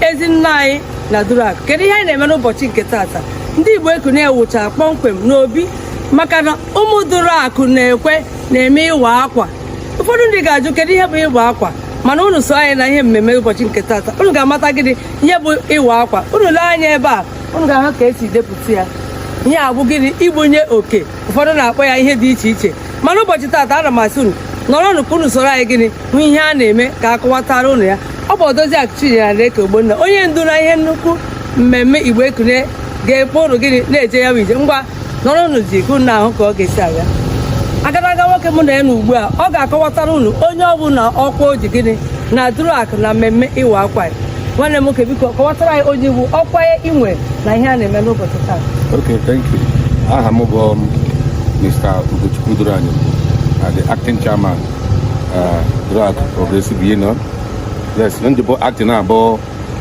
ezi nna anyị na Duruakụ kedu ihe anyị na-eme n'ụbọchị nke taata ndị Igbo Ekunie ewucha kpọmkwem n'obi maka na ụmụ Duruakụ na-ekwe na-eme ịwa akwa ụfọdụ ndị ga-ajụ kedu ihe bụ ịwa akwa mana unu so anyị na ihe mmemme ụbọchị nke taata unu ga-amata gịnị ihe bụ ịwa akwa unu lee anya ebe a unu ga-ahụ ka esi depụta ya ihe a bụ gịnị igbunye oke ụfọdụ na-akpọ ya ihe dị iche iche mana ụbọchị taata ana m asị unu nọrọnụ ka unu soro anyị gịnị hụ ihe a na-eme ka akọwatara unu ya ọ bụ odoziakụ Chinyere Aneke Ogbonna onye ndu na ihe nnukwu mmemme Igbo Ekunie ga-ekpo unu gịnị na-eje ya bụ ije ngwa nọrọnụ jii ka unu hụ ka ọ ga-esi aga agadaga nwoke mụ na ya nọ ugbu a ọ ga-akọwatara unu onye ọ bụ na ọkwa o ji gịnị na Duruakụ na mmemme ịwa akwa ya nwanne m nwoke biko kọwatara anyị onye ị wụ ọkwa ị nwe na ihe a na-eme n'ụbọchị taa Okay, thank you. Aha m bụ um, Mr. Ugochukwu Duranyo, uh, the acting chairman, uh, Duruakụ Progressive Union. Yes, m ji bụ acting bụ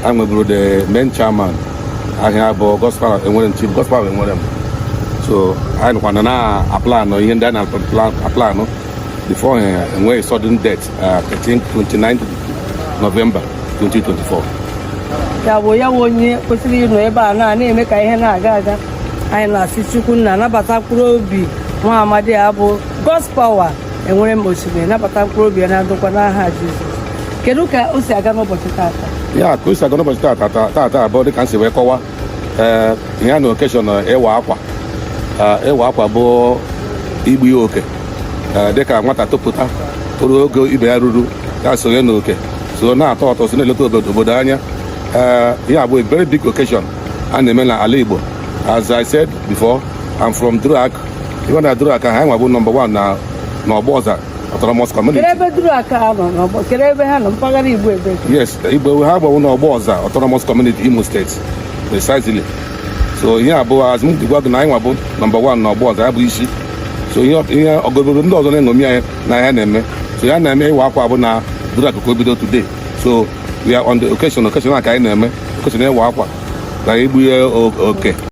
e nweburu the main chairman aha ya bụ Godspower Enwerem chief Godspower Enwerem. So anyị nọkwa na-aplanụ ihe ndị a na-aplanụ before eh, e nwee sudden death Uh, 13, 29 November 2024. ya bụ ya bụ onye kwesịrị ịnọ ebe a na na-eme ka ihe na-aga aga anyị na-asị chukwu nna nabata mkpụrụ obi nwa amadi a bụ Godspower Enwerem osimiri nabata mkpụrụ obi ya na ndokwa n'aha Jizọs kedu ka o si aga n'ụbọchị taata ya ka o si aga n'ụbọchị taata taata bụ dịka m si wee kọwa ee ihe a na occasion ịwa akwa Ee, ịwa akwa bụ igbu ya oke Ee, dịka nwata topụta toruo ogo ibe ya ruru ya sonye na oke so na-atụ ụtụ so na-eleta obodo obodo anya ihe a bụ a very big occasion a na-eme na ala Igbo as I said before I'm from Duruakụ even na Duruakụ ha nwa bụ number one na Ọgbọza autonomous community kedu ebe Duruakụ ha nọ n'ọgbọ kedu ebe ha nọ mpaghara igbo ebe yes igbo ha gbanwe n'Ọgbọza autonomous community imo steeti precisely so ihe a bụ as m dị agwa gị na anyị nwa bụ number one na Ọgbọza ya bụ isi so ihe ihe obodo ndị ọzọ na-eṅomi anyị na ya na-eme so ya na-eme ịwa akwa bụ na Duruakụ ka o bido today so we are on the occasion occasion a ka anyị na-eme occasion ịwa akwa na igbu ihe o- oke